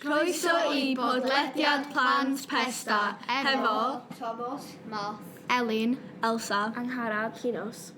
Croeso i bodlediad Plant Pesda hefo Tomos, Math, Elin, Elsa, Angharad, Llinos.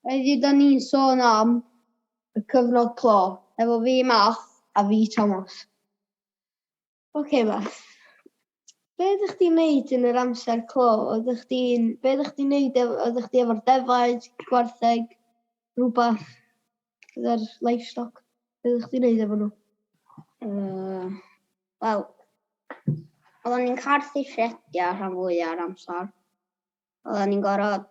Heddiw 'da ni'n sôn am y cyfnod clo, efo fi Math a fi Tomos. Ok Math. Be ydych chi'n neud yn yr amser clo? Oeddech chdi'n... Be ydych chi'n neud? ef- Oeddech chdi efo'r defaid, gwartheg, rhywbeth? Gyda'r livestock? Be ydych chi'n neud efo nhw? Uh, Wel, oedden ni'n carthu ffrediau rhan fwyaf o'r amser. Oedden ni'n gorfod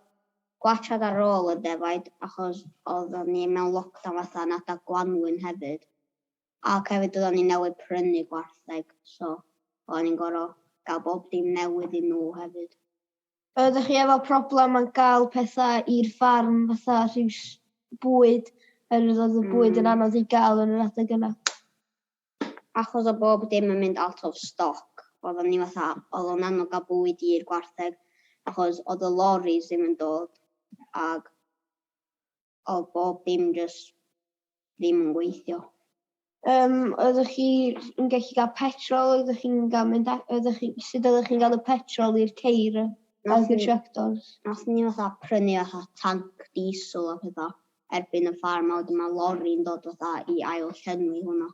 gwachad ar ôl y defaid achos oedden ni mewn lockdown fatha yn adeg gwanwyn hefyd. Ac hefyd oeddan ni newydd prynu gwartheg so oeddan ni'n gorfod gael bob dim newydd i nhw hefyd. Ydych chi efo problem yn gael pethau i'r ffarm fatha rhyw bwyd oherwydd oedd y bwyd yn anodd i gael yn yr adeg yna? Achos oedd bob dim yn mynd out of stock oeddan ni fatha oedd o'n anodd gael bwyd i'r gwartheg achos oedd y loris ddim yn dod ag Oedd bob dim jyst ddim yn gweithio. Yym oeddech chi yn gallu cael petrol oeddech chi'n cael mynd a- oeddech chi sut oeddech chi'n cael y petrol i'r ceir yy oedd y tractors? Nath ni fatha prynu fatha tanc diesel a petha erbyn y ffarm a wedyn ma' lori'n dod fatha i ail llenwi hwnna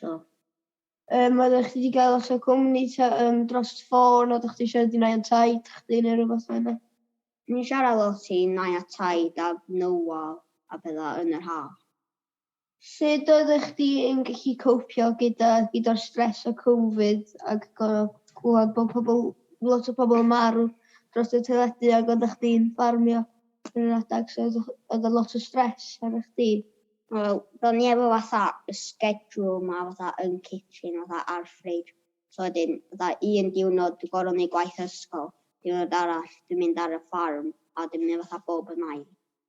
so Um, oeddech chi wedi cael os o cwmni ta, um, dros ffôn, oeddech chi siarad i nai a taid chdi neu rhywbeth fel yna? Ni'n siarad lot i nai a taid a menywod a pethau yn yr haf. Sut oeddech chdi yn gallu copio gyda gyda'r stres o Covid ac gorfod clywed bod pobl, lot o pobl yn marw dros y teledu ac oeddech chdi'n ffarmio yn yr adeg so oedd oedd lot o stres arnoch chdi? Wel, do'n ni efo fatha y schedule 'ma fatha yn kitchen fatha a'r fridge. So wedyn fatha un diwrnod dwi gor'o' neud gwaith ysgol, diwrnod arall dwi'n mynd ar y ffarm a dwi'n mynd fatha bob yn ail.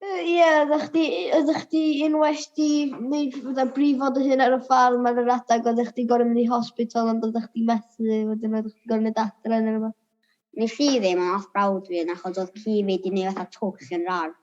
Yy ie oddach chdi yy oddach chdi yn well 'di neud fatha brifo dy hun ar y ffarm ar yr adag oddach chdi gor'o' mynd i hospital ond oddach chdi methu wedyn oddach chdi gor'o' mynd adre ne' rwbath? Nes i ddim ond nath brawd fi un achos odd ci fi 'di neud fatha twll yn 'r ardd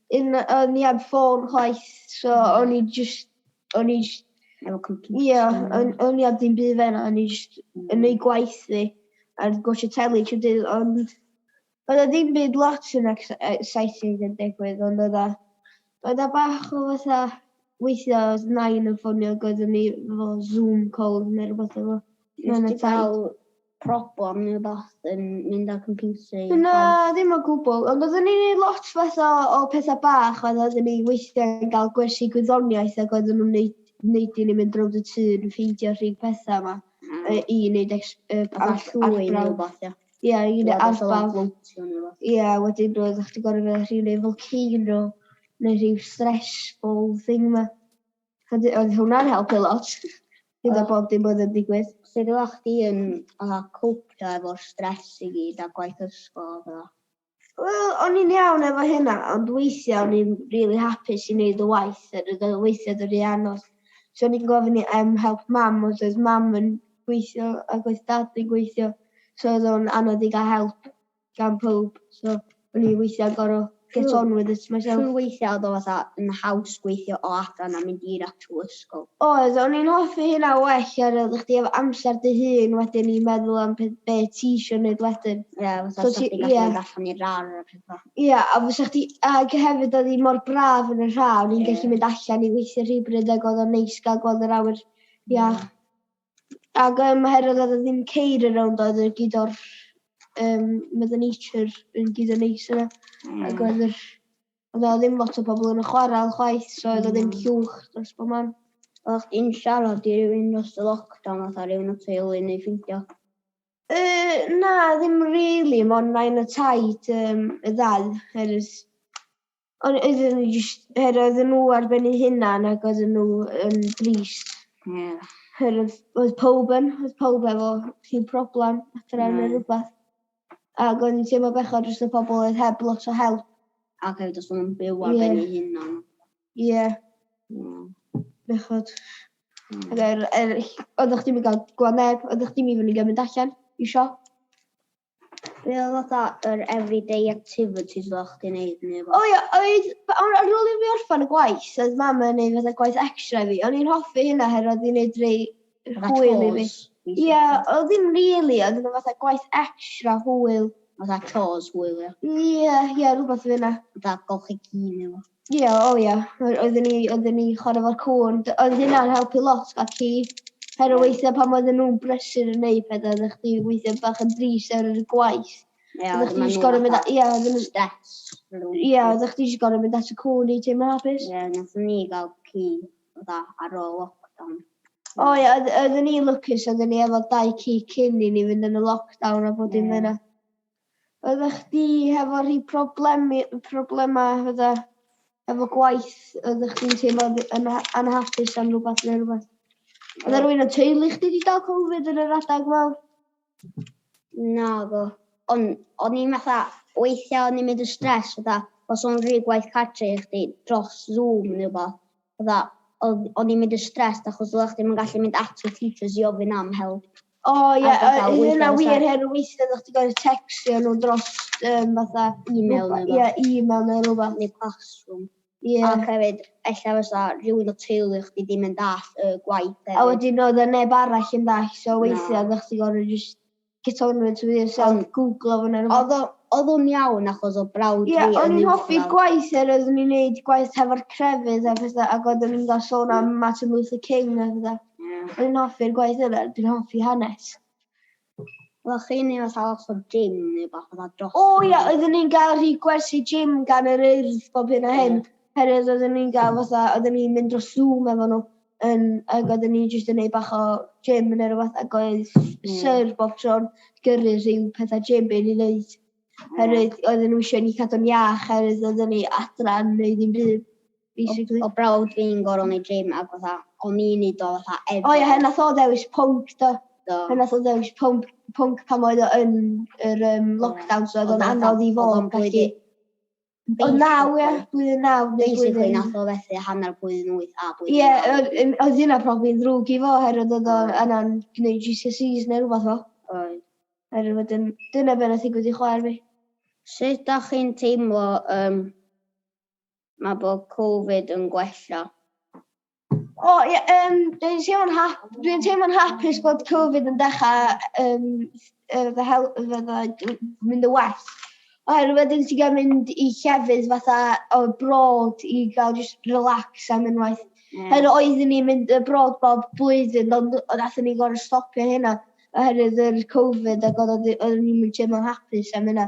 Yn o'n i heb ffôn chwaith so o'n i jyst o'n i jyst Efo computer. Ie o'n o'n i heb ddim byd fel 'na o'n i jyst yn neud gwaith fi a gwatshio teli trw'r dydd ond oedd e ddim byd lot yn ex- exciting yn digwydd ond oedd e oedd e bach o fatha weithia' oedd nain yn ffonio ag oeddwn i efo Zoom calls ne' rwbath efo Nest ti ca'l problem neu rhywbeth yn mynd â'r computer i... Na, ddim o gwbl, ond oeddwn ni'n neud lot fath o o petha bach oedd oeddwn ni weithiau'n gael gwersi gwyddoniaeth ac oeddwn nhw'n neud neud i ni mynd rownd y tŷ yn ffeindio rhyw petha yma mm. yy i neud ex- yy Fatha llwy neu rhywbeth, ia. Ia, i neud arbrawf. Ia, wedyn roeddach chdi gorfod mynd rhyw neu volcano neu rhyw stressful thing 'ma. Ydy, oedd hwnna'n helpu lot. Gyda bob dim oedd yn digwydd. Sut oeddech chdi yn fatha copio efo'r stress i gyd a gwaith ysgol a petha? Wel, o'n i'n iawn efo hynna, ond weithiau o'n i'n rili hapus i wneud y waith a roedd o weithiau yn rhy anodd. So o'n i'n gofyn i am help Mam, ond doedd Mam yn gweithio ac oedd Dad yn gweithio, so oedd o'n anodd i gael help. gan powb so o'n i weithia'n gor'o' get on with it myself. Trw' weithia' o'dd o fatha yn haws gweithio o adra na mynd i'r actual ysgol. Oedd, o'n i'n hoffi hynna well ar ôl i chdi efo amsar dy hun wedyn i meddwl am pe- be' ti isio neud wedyn. Ie fatha 'sa chdi'n gallu mynd allan i'r rar a petha. Ia a fysa chdi ag hefyd o'dd 'i mor braf yn yr ha' o'n i'n gallu mynd allan i weithio rhyw bryd ag o'dd o'n neis ga'l gweld yr awyr iach. Ag yym oherwydd oedd e ddim ceir y rownd oedd e gyd o'r um, Mother Nature yn gyd yn neis yna. Mm. Ac oedd yr... Oedd o ddim lot o bobl yn y chwarae chwaith, so oedd o ddim mm. llwch dros bob man. Oedd chdi'n siarad i rywun dros y lockdown oedd ar rhywun o teulu neu ffeindio? E, na, ddim rili, really, ond nain y taid um, y ddau, erys Ond oedden nhw jyst, her oedden nhw ar ben eu hunan ac oedden nhw yn drist. Ie. Yeah. Her oedd, oedd pob yn, oedd pob efo rhyw problem adre neu rhywbeth. Ac oedd yn teimlo bechod dros y pobl oedd heb lot o help. Ac hefyd os nhw'n byw ar ben eu hunan. Ie. Ie. Bechod. Mm. Ac er, er, oeddech chdi'n mynd gael gweld neb, oeddech chdi'n mynd i fynd i gymryd allan i siop. Be oedd fatha yr everyday activities fel chdi'n neud neu O ia, oedd, ar ar ôl i fi orffan y gwaith, oedd mam yn neud fatha gwaith extra i fi. O'n i'n hoffi hynna oherwydd oedd hi'n neud rei Fatha hwyl i fi. chores, Ie, weithiau. oedd ddim rili, oedd yna fatha gwaith extra hwyl. Fatha chores hwyl ia. Ie, ie, rhywbeth fel 'na. Fatha golchi ci neu rwbath. Ie o ie. Oe- oedden ni oedden ni chware efo'r cŵn. D- oedd hynna'n helpu lot gallu her o weithie pan oedden nhw'n brysur yn neud pethe oeddech chdi weithie bach yn drist ar yr gwaith. Ie oeddech chdi jyst gor'o' mynd a- ie oedden nhw... Stress. Ie oeddech chdi jyst gor'o' mynd at y cŵn i teimlo hapus. Ie nathon ni ga'l ci fatha ar ôl lockdown. O ie oedd- oedden ni lwcus oedden ni efo dau ci cyn i ni fynd yn y lockdown a bob dim fel 'na. Oedda chdi hefo rhi problemi problema fydda efo gwaith oedda chdi'n teimlo yn anhapus am rwbath neu rwbath? Oedda rwy'n yn teulu chdi di dal Covid yn yr adag mawr? Naddo. Ond o'n i'n fatha weithia o'n i'n mynd yn stress fatha os o'n rhi gwaith cartre i chdi dros Zoom neu wbath. Fatha, oedd, o'n i'n mynd yn stressed achos oeddach chdi'm yn gallu mynd at y teachers i ofyn am help. O ie, a fatha yy weithia' hynna wir her weithia' oddach chdi gor'o' tecsio nhw dros yym fatha... Email neu rwbath. Ie email neu rwbath. Neu Classroom. Ie. Ac hefyd ella fysa rhywun o teulu chdi ddim yn dallt y gwaith hefyd. A wedyn oedd 'na neb arall yn dallt so weithia'... Na. ...oeddach chdi gor'o' jyst Get on with it yourself. Ond googlo fo neu rwbeth. Odd o, odd o'n iawn achos o brawd fi yn uwchradd. Ie, o'n i'n hoffi'r gwaith er oeddwn i'n neud gwaith hefo'r crefydd a pethau ac oeddwn i'n gael sôn am Martin Luther King a pethau. Ie. O'n i'n hoffi'r gwaith yna, dwi'n hoffi hanes. Oeddech chi'n neud fatha lot o gym neu wbath fatha dros... O ia, oeddwn ni'n gael rhy gwersi gym gan yr Urdd bob hyn a hyn. Oherwydd oeddwn ni'n gael fatha, oeddwn ni'n mynd dros Zoom efo nhw. yn ag oedden ni jyst yn neud bach o gym ne' rwbath ag oedd Syr bob tro'n gyrru rhyw petha gym i ni neud oherwydd oedden n'w isio i ni cadw'n iach oherwydd oedden ni adra yn neud dim byd basically. O'dd brawd fi'n gor'o' neud gym ag fatha o'n i'n neud o fatha ef-... O ie her nath o ddewis pwnc do. Do. Her nath o ddewis pwnc pwnc pan oedd o yn yr yym lockdown so o'dd o'n anodd i fo gallu... O naw, ie, blwyddyn naw neu Basically, blwyddyn... nath o fethu hanner blwyddyn wyth a blwyddyn Ie, naw. oedd yn- oedd hynna profi yn ddrwg i fo oherwydd oedd o yna'n gwneud GCSEs neu rhywbeth fo. Oedd. Oherwydd wedyn, dyna be' nath ddigwydd i chwaer fi. Sut dach chi'n teimlo ym ma' bod Covid yn gwella? O, ie, um, dwi'n teimlo'n hap, dwi'n teimlo'n hapus bod Covid yn dechrau um, fy hel, fydda mynd y well. Oherwydd wedyn ti'n gael mynd i llefydd fatha o brod i gael just relax am unwaith. Mm. Oherwydd oeddwn ni'n mynd y brod bob blwyddyn, ond oeddwn ni'n gorau stopio hynna oherwydd yr Covid ac oeddwn ni'n mynd teimlo'n hapus am hynna.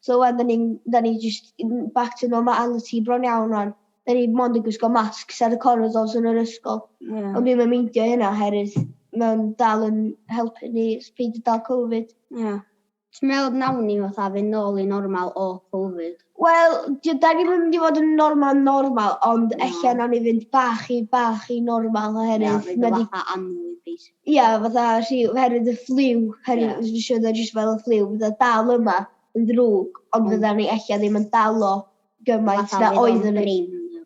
So wedyn ni'n, da ni just back to normality bron iawn o'n. Da ni mond yn gwisgo masks ar y corridors yn yr ysgol. Yeah. Ond dwi'm yn meindio hynna oherwydd mae'n dal yn helpu ni peidio dal Covid. Ie. Ti'n meddwl nawn ni fatha fynd nôl i normal o Covid? Wel, dio- da ni'n mynd i fod yn normal normal ond ella nawn ni fynd bach i bach i normal Ie, oherwydd fydd mae o di... fatha annwyd basically. Ia, fatha rhi- oherwydd y ffliw, Ie. oherwydd nes i siarad jyst fel y ffliw, fydda dal yma yn ddrwg ond Mm. fydda ni ella ddim yn dal o gymaint na oedd yn y...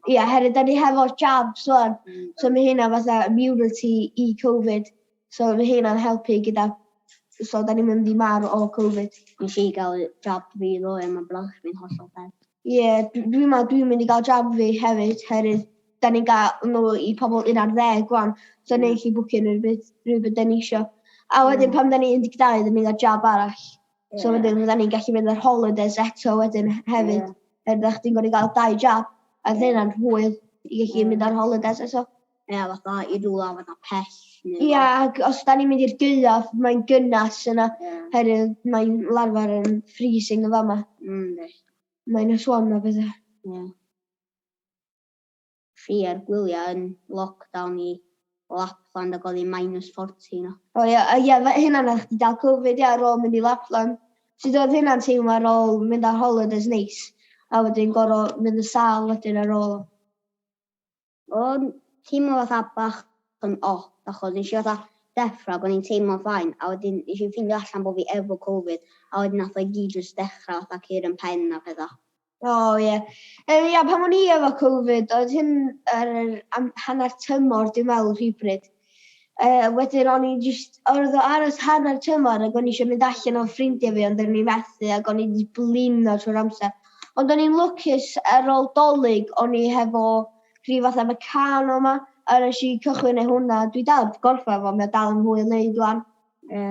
Ie, oherwydd da ni hefo'r jabs rwan, hmm. so mae hynna fatha immunity i Covid, so mae hynna'n helpu gyda... So da ni'n mynd i marw o Covid. Nes i gael jab fi ddo, e, mae brawd fi'n hollol dead. Ie, yeah, dwi'n dwi meddwl dwi'n mynd i gael jab fi hefyd, herwydd da ni'n gael nhw i pobl un ar ddeg gwan, so ni'n gallu bwcio nhw rhywbeth, rhywbeth da ni eisiau. A wedyn mm. pan da ni 12, da ni'n cael jab arall. So yeah. wedyn fydda ni'n gallu mynd ar holidays eto wedyn hefyd. Yeah. Er ddech chi'n gwneud gael dau jab, a ddyn yna'n hwyl i gallu yeah. mynd ar holidays eto. Ie, yeah, fatha i rwla fatha pell. Ie, yeah, ac os da ni'n mynd i'r gyaf, mae'n gynnas yna. Yeah. Herwydd mae'n larfar yn freezing y fama. Mm, Mae'n swan o bethau. Ie. Yeah. Fi ar gwyliau yn lockdown i Lapland ac oedd hi'n minus forty yno. O ia, a ia fe- hynna'n oddach chdi dal covid ia ar ôl mynd i Lapland? Sud oedd hynna'n teimlo ar ôl mynd ar holidays neis a wedyn goro mynd yn sâl wedyn ar ôl? O'n teimlo fatha bach yn odd achos nesh i fatha deffro ac o'n i'n teimlo'n fine a wedyn nesh i ffindio allan bo fi efo covid a wedyn nath o i gyd jyst dechra fatha cur yn pen a petha. O ie. Yy ia pan o'n i efo Covid oedd hyn yr yr am hanner tymor dwi me'wl rhywbryd. Yy wedyn o'n i jyst ordd o aros hanner tymor ag o'n i isio mynd allan o ffrindie fi ond o'n i methu ag o'n i 'di blino trwy'r amser. Ond o'n i'n lwcus ar ôl 'Dolig o'n i hefo rhyw fath o Meccano 'ma a nesh i cychwyn neu' hwnna dwi dal 'eb gorffan fo mae o dal yn fwy o neud ŵan. Ie.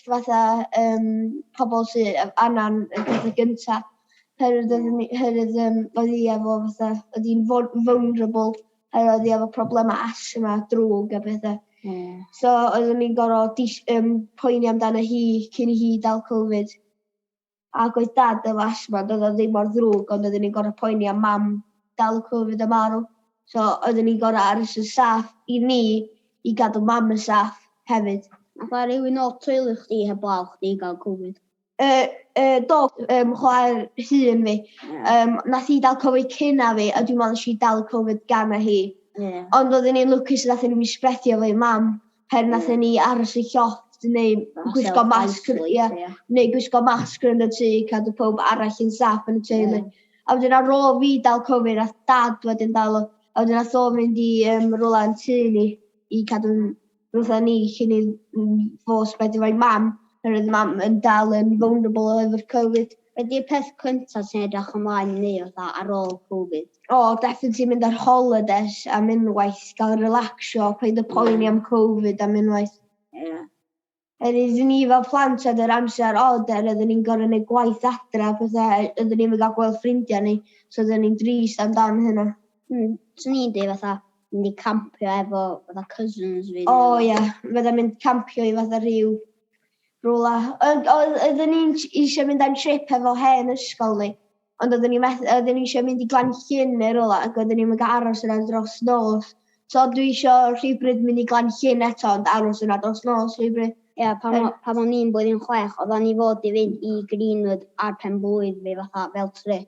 fatha yym pobol sy yy angan y pethe gynta oherwydd oeddwn ni oherwydd yym oedd hi efo fatha oedd hi'n ful- vulnerable oherwydd oedd hi efo problema asthma a drwg a pethe. Hmm. So oeddwn ni'n gor'o' dis- yym poeni amdana hi cyn i hi dal Covid. Ac oedd dad yn lash man, doedd o ddim mor ddrwg ond oeddwn i'n gorfod poeni am mam dal y covid a marw. So oeddwn i'n gorfod aros yn saff i ni i gadw mam yn saff hefyd. Alla rywun o teulu chdi heblaw chdi gael covid? Yy yy do, yym chwaer hŷn fi. Yym nath hi dal covid cyn na fi a dwi'n meddwl nes i dal y covid gan na hi. Ie. Ond oeddwn i'n lwcus nathon ni ddim sbredio fo i mam. pan nathon ni aros yn llofft neu gwisgo masg ia neu gwisgo masg yn y tŷ i cadw pawb arall yn saff yn y teulu. A wedyn ar ôl fi dal Covid nath dad wedyn dal o a wedyn nath o mynd i yym rwla yn tŷ ni i cadw fatha ni cyn i n- n- fo spreadio fo i mam oherwydd mam yn dal yn vulnerable efo'r Covid. Be ydi'r peth cynta ti'n edrych ymlaen i neud fatha ar ôl covid? O definitely mynd ar holidays am unwaith, ga'l relaxio, paid a poeni am covid am unwaith. Ie. Yr oeddwn i fel plant oedd yr amser od er oeddwn i'n gor'o' neud gwaith adra a petha a oeddwn ni'm yn ga'l gweld ffrindia ni so oeddwn i'n drist am dan hynna. Hmm, swn i'n deud fatha mynd i campio efo fatha cousins fi. O ie, fatha mynd campio i fatha rhyw rwla. Ond oedd- oeddwn ni eisiau mynd am trip hefo hen ysgol ni, ond oeddwn ni meth- oeddwn ni eisiau mynd i Glan Llyn neu rwla ac oeddwn ni'm yn gallu aros yna dros nos. So dwi isio rhywbryd mynd i Glan Llyn eto ond aros yna dros nos rhywbryd. Ia, pan o- pan o'n i'n blwyddyn chwech, oeddan ni fod i fynd i Greenwood ar pen-blwydd fi fatha fel trip.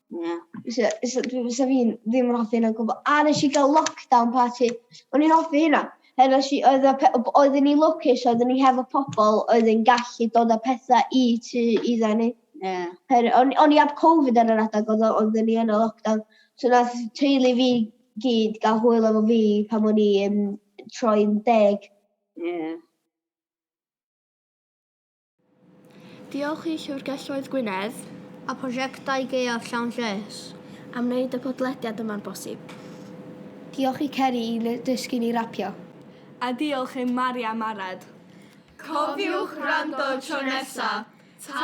Na. Fysa, fysa, dwi- fysa fi'n ddim yn hoffi hynna o gwbl. A nes i gael lockdown party. O'n i'n hoffi hynna. He, nes i, oedd y pe- b- oedden ni lwcus, oedden ni hefo pobl oedd yn gallu dod â pethau i tu iddyn ni. Ie. Her, o'n, o'n i ab Covid ar yr adeg oedd o- oedden ni yn y lockdown. So nath teulu fi gyd gael hwyl efo fi pan o'n i yn troi'n deg. Ie. Diolch i Llyfrgelloedd Gwynedd a Prosiectau Gaeaf Llawn Lles am wneud y podlediad yma'n bosib. Diolch i Ceri i ddysgu ni rapio. A diolch i Mari am Arad. Cofiwch wrando tro nesa! Ta!